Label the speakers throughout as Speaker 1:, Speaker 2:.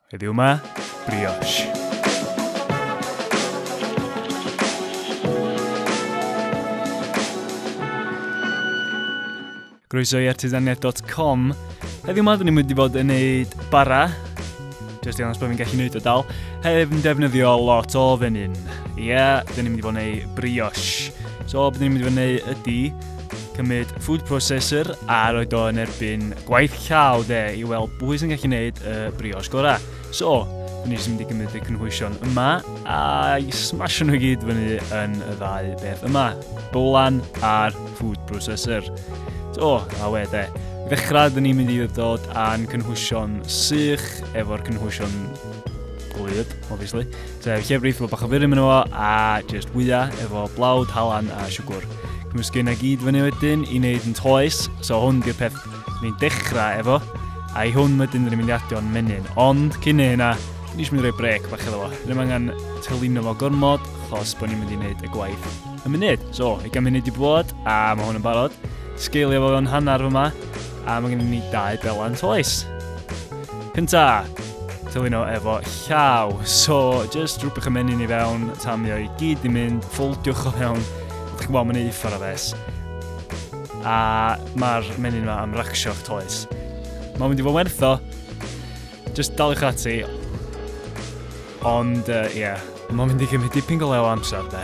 Speaker 1: Heddiw yma, brioche. Groeso i artisaniaeth.com. Heddiw yma, dyn ni'n mynd i fod yn neud bara. Just i annos bod fi'n gallu neud o dal. Heb yn defnyddio lot o fenyn. Ie, yeah, dyn ni'n mynd i fod yn neud brioche. So, beth ni'n mynd i fod yn neud ydy, cymryd food processor a roed o yn erbyn gwaith llaw de i weld pwy sy'n gallu gwneud y brioche gorau. So, dyn ni sy'n mynd i gymryd y cynhwysion yma a i smasho nhw gyd fyny yn y ddau beth yma, bolan a'r food processor. So, a we de, ddechrau dyn ni'n mynd i ddod â'n cynhwysion sych efo'r cynhwysion gwlyb, obviously. Te llef reith fo bach o furum yn fo a just wya efo blawd, halan a siwgwr. Cymysgu yna gyd fyny wedyn i wneud yn toes, so hwn di'r peth ni'n dechrau efo. A i hwn wedyn ni'n mynd i adio'n menyn. Ond cyn ei hynna, ni eisiau mynd i roi brec bach efo. Ddim angen tylino fo gormod, chos bod ni'n mynd i wneud y gwaith y munud. So, i gael munud i bod, a mae hwn yn barod. Sgeilio fo fewn hanner fyma, A mae gennym ni dau belan toes. Cynta, tyluno efo llaw. So, just rhywbeth y menyn i fewn, tamio i gyd i mynd, ffoldiwch o fewn. Ydych chi'n gweld, mae'n ei uffar o fes. A mae'r menyn yma am racsio'ch toes. Mae'n mynd i fod wertho. Just daliwch ati. Ond, ie. Uh, yeah. Mae'n mynd i gymryd dipyn go lew amser, de.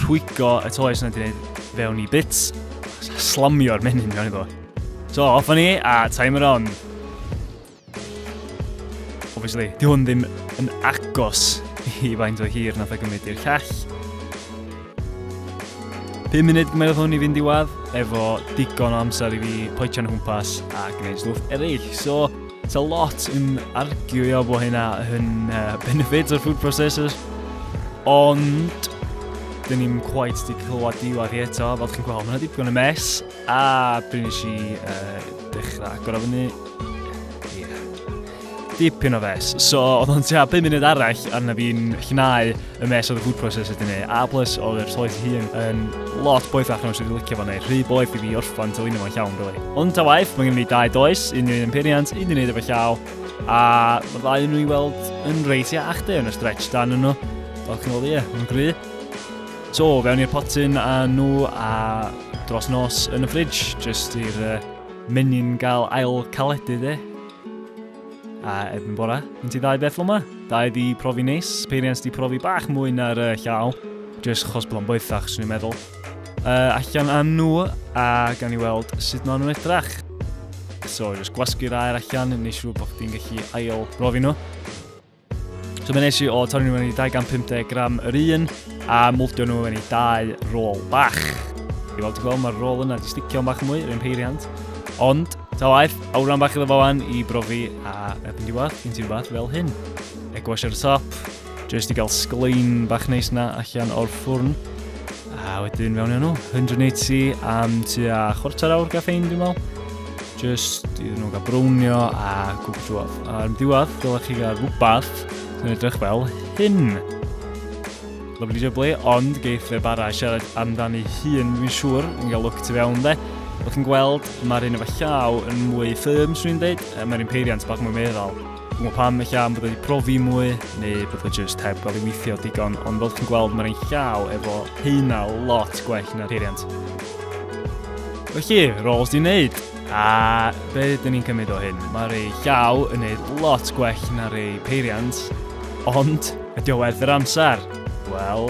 Speaker 1: Rhwygo y toes yna ti'n gwneud fewn i bits. Slamio'r menyn mewn iddo. So, off ni, a timer on. Obviously, di hwn ddim yn agos i faint o hir nath o gymryd i'r llall. 5 munud gymerodd hwn i fynd i wad, efo digon o amser i fi poetio'n hwmpas a gwneud stwff eraill. So, It's a lot yn arguio bod hynna yn uh, benefit o'r food processors, ond dyn ni'n quite di clywed diwad i eto, fel chi'n gweld, mae'n dipyn y mes, a pryn nes i uh, dechrau agor o fyny, yeah. dipyn o fes. So, oedd o'n tua 5 munud arall arna fi'n llnau y mes oedd y food processor di neud, a plus oedd yr toes hun yn lot boethach na sydd wedi licio fo neud, rhy boeth i fi orffan telino fo'n llawn, really. Ond ta waith, mae gen i dau does, un yn imperiant, un yn neud efo llaw, a mae ddau nhw i weld yn reis iach de yn y stretch dan nhw. Fel chi'n gweld, ie, mae'n gry. So, fewn i'r potyn a nhw a dros nos yn y ffridge, jyst i'r uh, menyn gael ail caledu de. A erbyn bora, yn ti ddau beth lwma? Dau di profi neis, peiriant di profi bach mwy na'r uh, llaw. Jyst chos bod o'n boethach, swn i'n meddwl. Uh, allan â nhw, a gan i weld sut maen nhw'n edrach. So, jyst gwasgu'r air allan, neu siŵr bod chdi'n gallu ail brofi nhw. So mae'n eisiau o torri nhw mewn i 250 gram yr un a mwldio nhw mewn i dau rôl bach. I fel ti'n gweld, mae'r rôl yna di sticio'n bach mwy, rhywun peiriant. Ond, ta waith, awran bach iddo fo fan i brofi a erbyn diwedd, gen ti rhywbeth fel hyn. Egwash ar y top, jyst i gael sglein bach neis na allan o'r ffwrn. A wedyn fewn i nhw, 180 am tua chwarter awr gaffein dwi'n meddwl. Just i nhw gael brownio a gwb drwodd. A'r diwedd, dylech chi gael rhywbeth sy'n edrych fel hyn. Lovely jubbly, ond geith fe bara siarad amdani hun, fi'n siŵr, yn gael look tu fewn de. Wrth chi'n gweld, mae'r un efo llaw yn mwy ffyrm, swn i'n dweud, mae'r un peiriant bach mwy meddal. Gwbo pam ella am bod wedi profi mwy neu bod o just heb gael ei weithio digon ond fel ti'n gweld mae'n ein llaw efo heina lot gwell na'r peiriant. Felly, roles di wneud. A be dyn ni'n cymryd o hyn? Mae'r ei llaw yn neud lot gwell na'r ei peiriant, ond ydy o werth yr amser? Wel,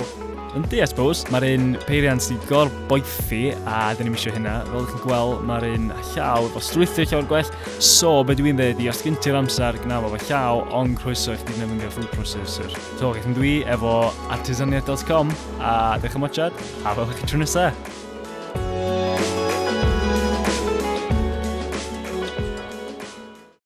Speaker 1: Yndi, I suppose. Mae'r un peiriant sy'n gor boethi, a dyn ni'n misio hynna. Fel ydych chi'n gweld, mae'r un llaw efo strwythio llaw o'r gwell. So, be dwi'n dweud i, os gen ti'r amser, gna fo llaw, ond croeso i chdi nefndio food processor. So, gaeth yn dwi efo artisaniaeth.com, a dych chi'n mwchad, a fel ydych chi'n tro nesaf.